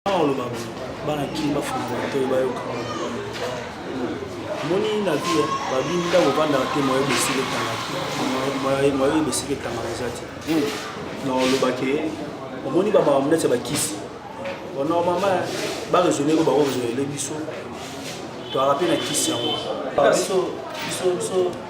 oloba bana kini bafungola matoi bayoka moni na vie babini ntango ovandaka te moye bosika etangaka moye bosika etangaka eza te hmm. na olobake omoni bamama monete ya bakisi normalement baresone ko bakoresonele biso toyaka mpe na kisi yango biso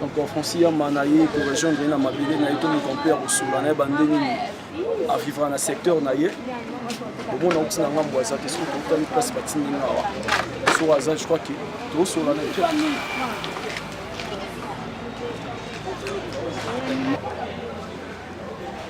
donc francis yamba na ye korejoindre ye na mabele na ye to moto mpe ya kosola na ye bande nini avivra na secteur na ye omona outi na ngambo aza te soki tokutani place batindi nga awa soki aza je crois ke tosola na ye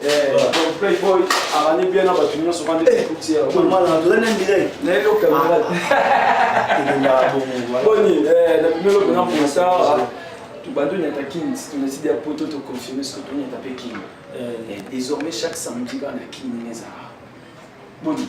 Eh, donc playboy arani bien na bato nyonso bande ekuti eh, tozali na mbila na eloko boni na bimelo mpena mpona sara tobandi onyata kin tonasidi ya poto toconfirme soki tonyata mpe kin eh. désormais chaque samedi bana kin ezala boni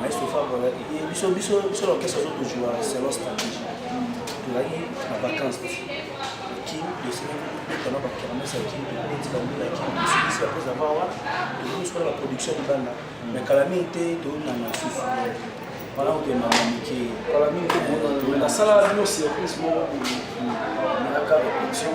Maestro Fabio azalaki ye biso biso biso na orchestre azo kojua selon stratégie tozalaki na vacance te kin tosengaki kobeta na bakermes ya kin tokobeti bango ya kin tosilisi apres ava wana tokomi soki na baproduction libanda mais kala mingi te toyonana susu wana kokenda na mike kala mingi te nasala bino surprise moko nayaka repetition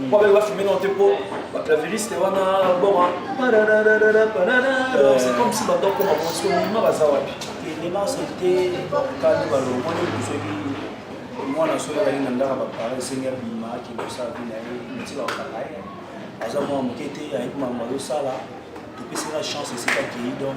mpo abaki bafilme nao te mpo baclaviriste wana boma c'est comme si bato akoma bonso mima baza wapi elenance te bakokani balongoli soki mwana soki azali na ndaka bapare esengi abima akende kosala vi na ye neti bakokanga ye aza mwana moke te ayebi makambo azosala topesaka chance esika akei donc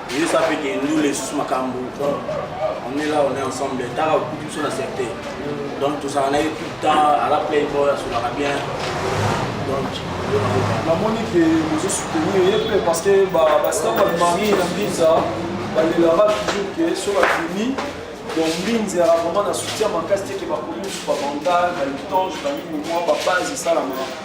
Yo sa pe ke ndule esusu makambo on est là on est ensemble tala okuti biso na serte donc tozala na ye tout le temps ala play boy asolaka bien donc namoni ke bozo soutenir ye mpe parce que bastar bamari na mbinza balelaka toujours ke so bafini donc mbinza yaka vraiment na soutien makasi te ke bakomi mosusu babandal balitange banini mwa babase esalamaka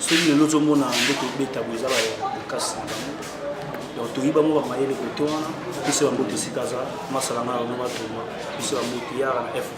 soki lelo ozomona nde kobeta boye eza bakasi na bango donc toyi bango bamayele kote wana biso ya mbote esika aza masala na yango batoma biso ya mbote yara na fp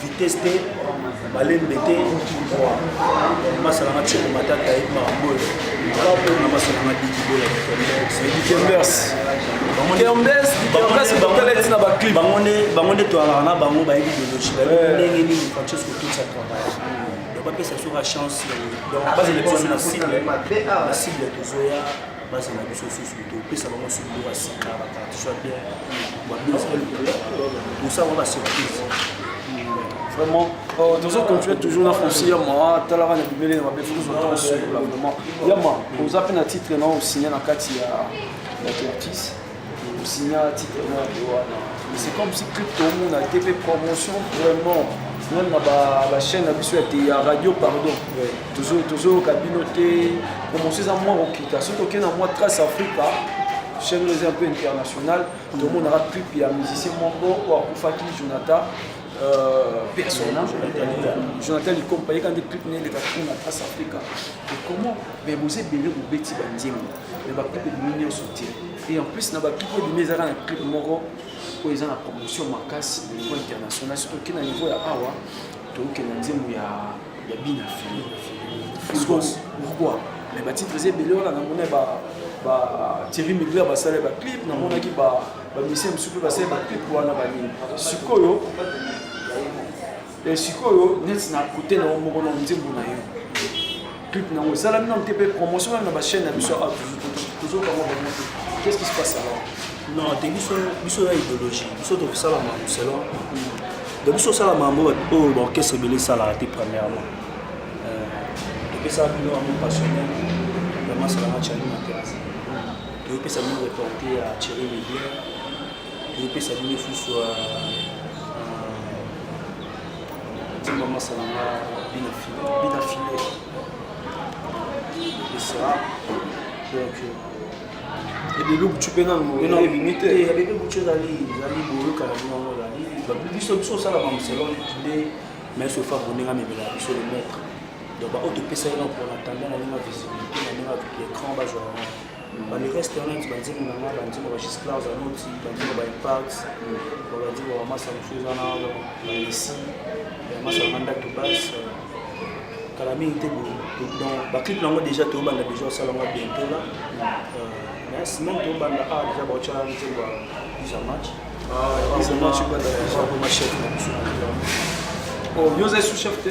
vitesse te malembe te masalanga tsheko matata ayebi makambo oyo kapona masalanga dikibola ditembers bango nde toyalaka na bango bayebi biologie bayebi eh. ndenge nini francesco totsa travail bapesa soka chance donc bazela biso na cible na cible tozoya baza na biso susu topesa bango susu biloko ya sika bakartiso ya bien tosala basurprise vraiment euh, tozo continue toujours na fosi yama atalaka na bibele na mabe fokozwa ntango sukula vraiment yama oza mpe na titre na osigne na kati ya artiste Signa titre moi de wana. Mais c'est comme si tout le monde a été fait promotion vraiment. Même na ba, ba chaîne na biso ya te ya radio pardon. Ouais. Toujours toujours kabino te promotion za moi okita. Soki okenda na moi Trace Africa chaîne oyo eza un peu internationale tomonaka clip ya musicien moko oyo akufaki jonathan personne jonathan likompa yeka nde clip na eleka kuna trace africa ekoma me boza ebele bobeti banzembo mais ba clip ebimi nyonso te et en plus na ba clip ebimi eza kaka na clip moko oyo eza na promotion makasi na niveau international surtout oke na niveau ya awa tookende na nzembo ya ya bina fili pourquoi mais batitre eza ebele wana namona ba ba thierry migler basala ba clip namonaki ba bamisien mosusu mpe basala ba clip wana banini sikoyo Eh, sikoyo neti na kote na yo moko na nzembo na yo clip na yango esalami nano te mpe promotion nano na bachaine na biso ah, tozoka ngo bango te qu'est-ce qui se passe alors non te biso biso na idéologie biso tokosala makambo selon donc biso osala makambo oyo baorchestre ebele esalaka te premièrement euh, topesaka bino yango passionnel vraiment salanga charli na terrasse toyopesa bino reporte ya thierry miguel tozopesa bino lisusu timba masala nga bina file bina file esa donc ebebe butu mpe nanominute ebebe butu ezali ezali boyokana bino yango ezali biso biso osala bamuselon nde mais sofa boninga mibela biso le maître donc baoyo topesa ye na mpona tanda na ndenge ya visibilité na ndenge ya écran bazwa yango ba le reste wana ti banzembo na nga banzembo ba gisclar zanoti banzembo ba impact ba banzembo ba masa mosusu eza na balesi ya masa na ndatu base kala mingi te donc baclip nango déjà tobanda déjà osala yango bientôt la mais semaine tobanda a déjà baotya nzembo ya isa match isa match bakomachef na biso oyo oza sous chef te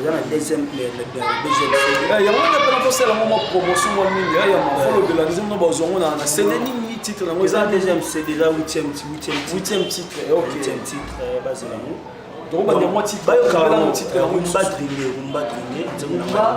oza na deuxième eh, yango nde mpena tosala ngo mwa promotion mwa mingi eh, ya mafolobela nzembo na bazwa ngo na sede nini titre yango eza deuxième sede eza huitième huitième titre eh, huitième titre bazela yango tokobanda mwa titre bayokabela ngo titre yango rumba dringe rumba dringe nzembo na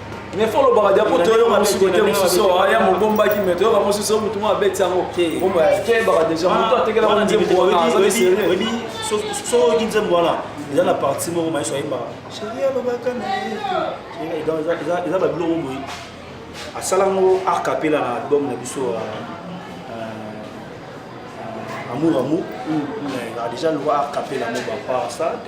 mais fo olobaka dia mpo toyoka mosusu kote mosusu aya mobombaki me toyoka mosusu motu ngo abeti yango kebaka deja motu atekelaka nzembo wana azali serieoyebi soki nzembo wana eza na parti moko maiso ayembaka sheri alobaka na ye eza babiloko boye asala ngo arc apela na album na biso amour amour déjà loi arc apela ngo bapart stade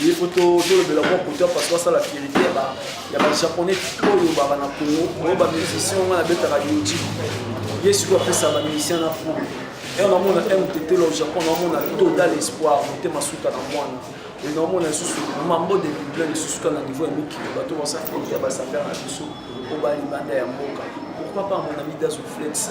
Il faut tolobela mwa kote ya paso asala verité ya bajaponais to olobaka na kongo oyo bamusicien wana abetaka yoji ye sikoyo apesa bamusicien na fou ere namona mtetelo au japon namona total espoir motema suka na mwana e namona lisusu mambo de bible lisusu ka na niveau ya mikili bato basafeli ya basafere na biso obalibanda ya mboka pourquoi pas mon ami dazo flex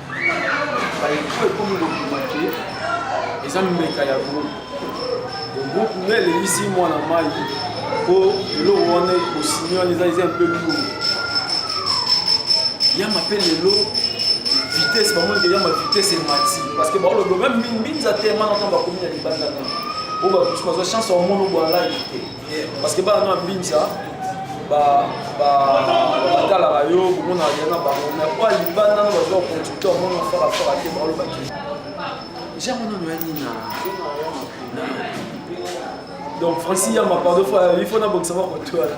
ba info ekomi kobima ke eza mbeka ya groupe groupe nde eleyisi mwana mai mpo eloko wana ekosini wana eza eza mpe lourd yama mpe lelo vitesse bamoni ke yama vitesse emati parce que baoloba meme mbinza te mana ntango bakomi na libanda meme oyo bakusu bazwa chance ya omona obwalaki te parce que bana na mbinza batalaka yo komona ya na bango me po libanda na bazoa producteur mona farafara te baolobaki jango nano ya nini donc francis yamba pardon il faut nabongisa bakoto wana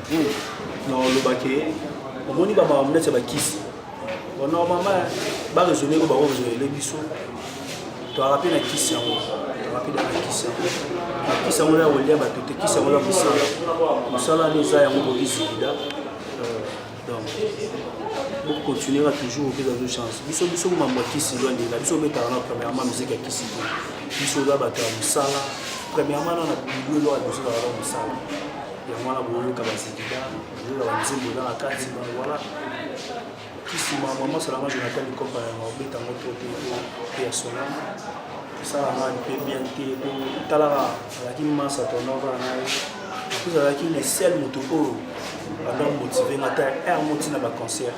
oloba ke omoni bamama neti ya bakisi normalement baresone ko bango resolele biso toyaka mpe na kisi yango toyaka mpe na kisi yango na kisi yango na kolia bato te kisi yango na mosala mosala nde eza yango bokisilida euh, donc bokontinuera toujours opesa zo chance biso biso mambo ya kisi lwandela biso obetaka na premièrement miziki ya kisi te biso oza bato ya mosala premièrement na na bilolo ya biso ezalaka mosala yango wana boyoka bazikida boyoka banzembo eza na kati wana kisima mama solanga jonathan likopa yango obeta yango to te mpe ya solanga osala nga mpe bien te po talaka azalaki masa tonova na ye plus azalaki le seul moto oyo banda motive nga ta r moti na baconcert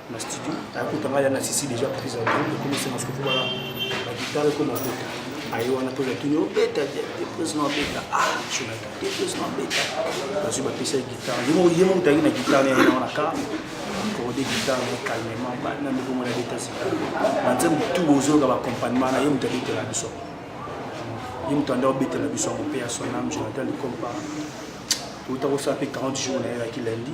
na studio ayakota ngai ya na sisi deja prise ya drum ekomisi na suku bala bagitare ekoma kota aye wana mpe natuni obeta deprise na obeta ah jonata deprise na obeta bazwi bapesa ye gitare ye moko mutaki na gitare na yango na kar akorde gitare na calmement bana ndeko mwana beta sika banze motu bozoyoka baaccompagnement na ye moto abetela biso ye moto anda obetela biso yango mpe ya sonam jonathan likompa outa kosala mpe 40 jours na ye yaki lundi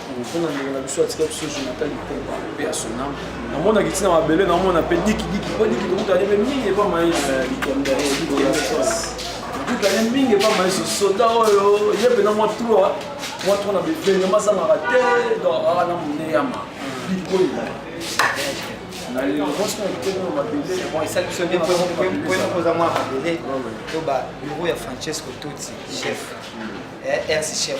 mpona ndeko na biso atika biso jonathan litomba mpe ya sonam namonaki ntina mabele namona mpe dikidiki mpo diki tokutani mpe mingi epa mayesu tokutani mingi epa mayesu soda oyo ye mpena mwa trois mwa trois na bevenge mazangaka te donc aa na moneyama bikoyina koza mwa mabele to babiro ya francesco tuti chef rc chef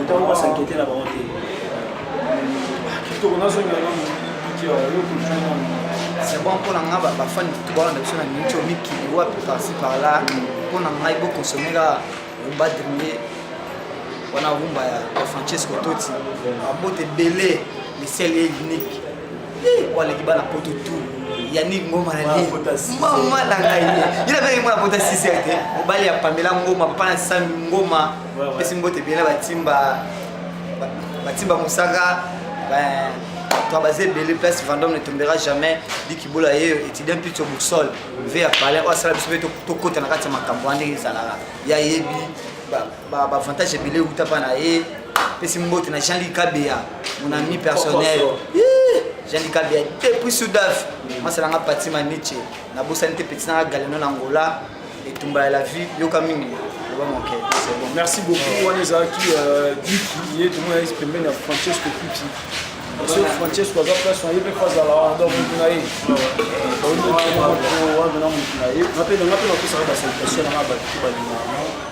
Ntango ba s'inquiéter na bango te. Kitoko nazongela na mokili ya yo kulture na c'est bon mpo na ngai bafani kutu bawana na biso na miniti oyo mikili wapi parci par là mpo na ngai bokonsome kaka rumba dringe wana rumba ya francesco toti babote ebele misele ye unique waleki bana poto tu yannick ngoma na nini mama na ngai ye nabenge mwana pota siser te mobali ya pamela ngoma papa na sami ngoma pesi mbote ebele batimba batimba mosaka toi basé belé place vendôme ne tombera jamais diki bola ye étudiant plus sur boussole ve ya palais oyo asala biso mpe tokota na kati ya makambo wana ndenge ezalaka ya yebi ba ba avantage ebele uta pa na ye pesi mbote na Jean Luc Kabeya mon ami personnel Jean Luc Kabeya depuis Sudaf masala nga pati ma Nietzsche na bosani te petit na galeno na Angola etumba ya la vie yoka mingi loba moke c'est bon merci beaucoup wana ezalaki euh, Guy ye tomona ye pembeni ya Francesco Kuti so francesco aza place na ye mpe mpo azala wana donc motu na ye wana na motu na ye nga mpe nanga mpe napesaka basalutation nanga bato balinganga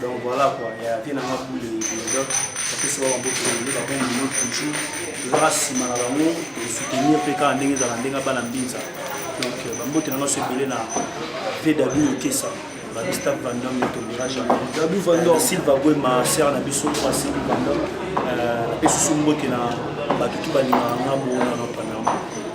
donc voilà quoi ya vie nanga bule donc bapesi ba bamboto nde bakomi bino toujours tozalaka nsima na bango soutenir mpe kaka ndenge ezala ndenge abana mbinza donc euh, bambote nanga so ebele na vw okesa babista vandom ne tombera jamais silva gwema ser na biso asili vandom euh, napesi so mbote na bato tu balingaka ngambo wana nopana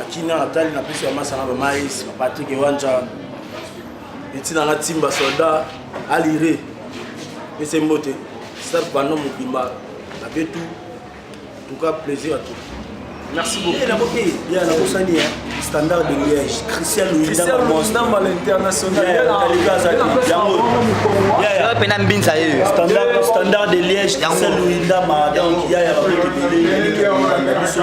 akina natali na pesi ya masanga ba mais ba Patrick Wanja etina na timba soldat alire pese mbote star bano mobimba na betu tout cas plaisir à tout merci beaucoup eh, eh, ya nakosani ya standard de liège christian luindamba l'international pena mbinza yeyo standard de liège christian luindama donc yaya bakotebele biso